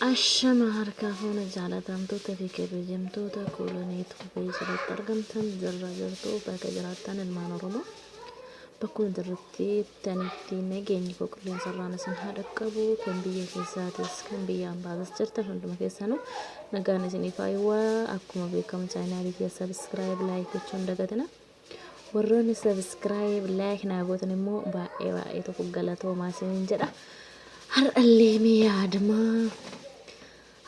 Ashama harkaa fuuna jaalatamtoota fi kabajamtoota koolonii tuubee jalatti argamtan jirra jirtuu bakka jiraattan ilmaan Oromoo bakkuma jirrutti tanitti nageenyi koo qilleensa irraan isin haa dhaqqabu kan biyya keessaatis kan biyya ambaatis jirtan hunduma keessanuu nagaan isiniif haa hawwaa akkuma beekamu chaayinaalii kiyya sabiskiraayib laayik gochuun dagatina. Warroonni subscribe like naa gootan immoo baay'ee baay'ee tokko galatoomaa isiniin jedha. Har'allee mee yaadama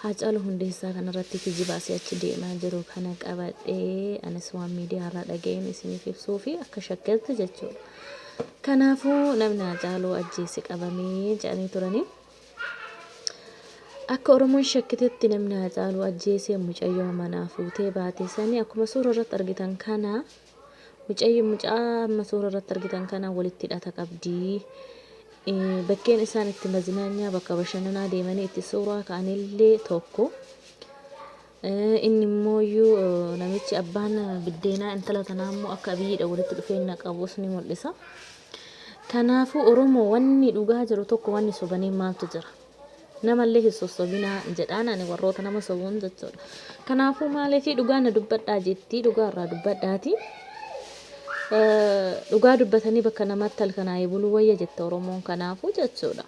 Haacaaluu Hundeessaa kanarratti kijibaa si achi deemaa jiru kana qabadhee anis waan miidiyaarraa dhaga'een isiniif ibsuu fi akka shakkeetti jechuudha. Kanaafuu namni Haacaaluu ajjeese qabamee jedhanii turanii Akka Oromoon shakkitetti namni Haacaaluu ajjeese mucayyoo manaa fuutee baate sani akkuma suura irratti argitan kana mucayyo mucaa amma suura irratti argitan kana walitti hidhata qabdi. Eh, Bakkeen isaan itti mazinaanyaa bakka bashannanaa deemanii itti suuraa ka'anillee tokko. Inni immoo iyyuu namichi abbaan biddeenaa intala tanaa immoo akka abiyyiidha walitti dhufeenya qabus ni mul'isa. Kanaafuu Oromoo wanni dhugaa jiru tokko wanni sobanii maaltu jira? Namallee hin sossobinaa jedhaan ani warroota nama sobuun jechuudha. Kanaafuu maaliifii dhugaa na dubbadhaa jettii dhugaa irraa dubbadhaati. Dhugaa dubbatanii bakka namatti halkanaa'ee buluu wayya jette Oromoon kanaafuu jechuudha.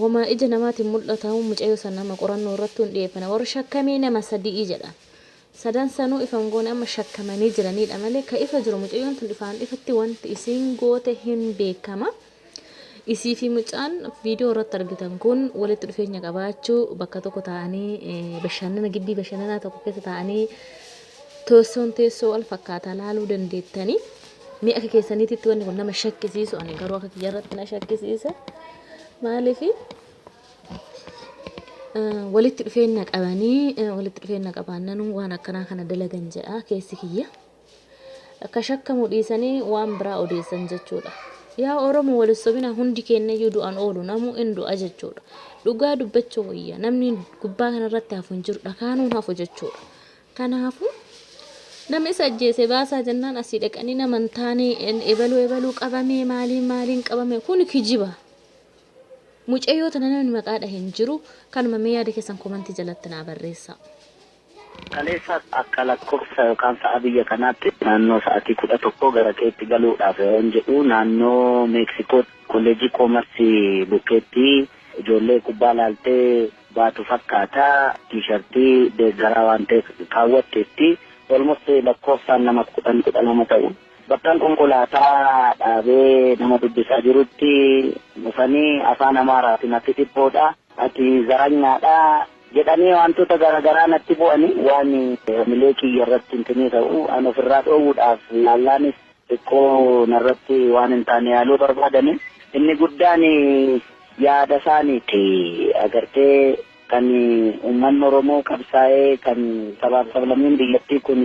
Woma ija namaatiin mul'ataun mucayyoo san amma qorannoo irrattuu hin dhiyeeffane. Warri shakkamee nama sadi'i jedhan. Sadan sanuu ifa hin goone amma shakkamanii jiraniidha malee ka ifa jiru mucayyoon tun ifaan ifatti wanti isiin goote hin beekama. Isii fi mucaan viidiyoo irratti argitan kun walitti dhufeenya qabaachuu bakka tokko taa'anii bashannana gibbii bashannanaa tokko keessa taa'anii teessoon teessoo wal fakkaataa laaluu dandeettanii. Mee akka keessaniititti wanni kun nama shakkisiisu ani garuu akka kiyyarratti na shakkisiisa. Maaliif walitti dhufeenya qabanii walitti dhufeenya qabaannan waan akkanaa kana dalagan jedha keessi kiyya. Akka shakkamu dhiisanii waan biraa odeessan jechuudha. Yaa Oromoo wal sobina hundi keenyayyuu du'an oolu namuu in du'a jechuudha. Dhugaa dubbachuu wayya namni gubbaa kanarratti hafu hin jiru dhakaanuun hafu jechuudha. Kanaafuu nama isa ajjeese baasaa jennaan asii dhaqanii nama hin taane ebaluu ebaluu qabamee maaliin maaliin qabame kun kijiba. Mucayyoo tana namni maqaa dhahe hin jiru kanuma mee yaada keessan komantii jalatti naa barreessaa. Kaleessaas akka lakkofsa yookaan sa'a biyya kanaatti naannoo sa'atii 11 gara keetti galuudhaaf yeroon jedhu naannoo Meeksikootti kolleejjii koomarsii bukkeetti ijoollee kubbaa laaltee baatu fakkaata. Tiishartii deeggaraa waan ta'eef kaawwatteetti. Almost lakkoofsaan nama kudhan kudha lama ta'u. Bakkan konkolaataa dhaabee nama dubbisaa jirutti dhufanii afaan Amaaraatiin ati dhiphoodha, ati zaranyaadha jedhanii waantota garaagaraa natti bu'anii waan hamilee kiyya irratti hintinii ta'u an ofirraa dhoowwuudhaaf yaallaanis. Xiqqoo narratti waan hin taane yaaluu barbaadani. Inni guddaan yaada isaaniiti. Agartee kan uummanni Oromoo qabsaa'ee kan sabaaf sablammiin biyyattii kun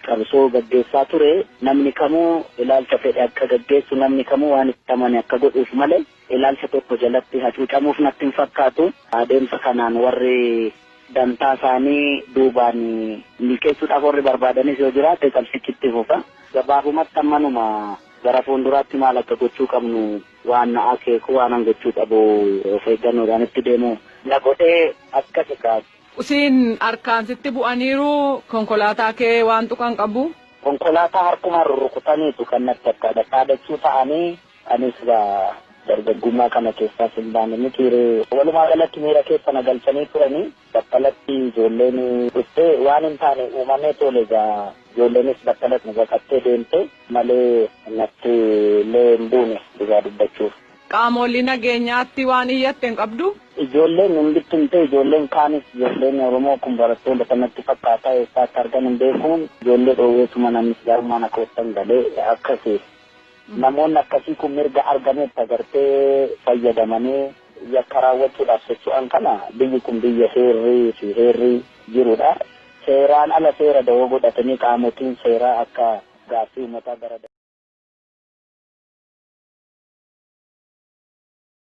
qabsoo gaggeessaa ture namni kamuu ilaalcha fedhe akka gaggeessu namni kamuu waan itti amane akka godhuuf malee ilaalcha tokko jalatti hacuucamuuf natti hin fakkaatu. Adeemsa kanaan warri dantaa isaanii duubaan milkeessuudhaaf warri barbaadanis yoo jiraate qabsichi itti fufa. Gabaabumatti ammanuma gara fuulduraatti maal akka gochuu qabnu waan na akeeku waanan gochuu qabu of eeggannoodhaan itti deemu na godhe akkas egaa. Siin harkaan sitti bu'aniiru konkolaataa kee waan tuqan qabu? Konkolaataa harkumaan rurrukutaniitu kan natti akka dhakaa dachuu ta'anii Ani silaa dargaggummaa kana keessaas hin baane mitii ree? Walumaa galatti miira keessa na galchanii turanii battalatti ijoolleen dhufte waan hin taane uumamee toole egaa ijoolleenis battalatti na baqattee deemte malee natti illee hin buune dhugaa dubbachuuf. Qaamoolii nageenyaatti waan iyyatte hin qabduu? Ijoolleen hin bittimtee ijoolleen kaanis ijoolleen Oromoo kun barattoota kan natti fakkaata eessaa akka argan hin beeku ijoollee dhoowweetuman ani islaamummaa na keessan gale akkasi. Namoonni akkasii kun mirga argametti agartee fayyadamanii yakka raawwachuudhaaf socho'an kana biyyi kun biyya seerri fi heerri jirudha. Seeraan ala seera dawoo godhatanii qaamotiin seeraa akka gaaffii uummataa gara.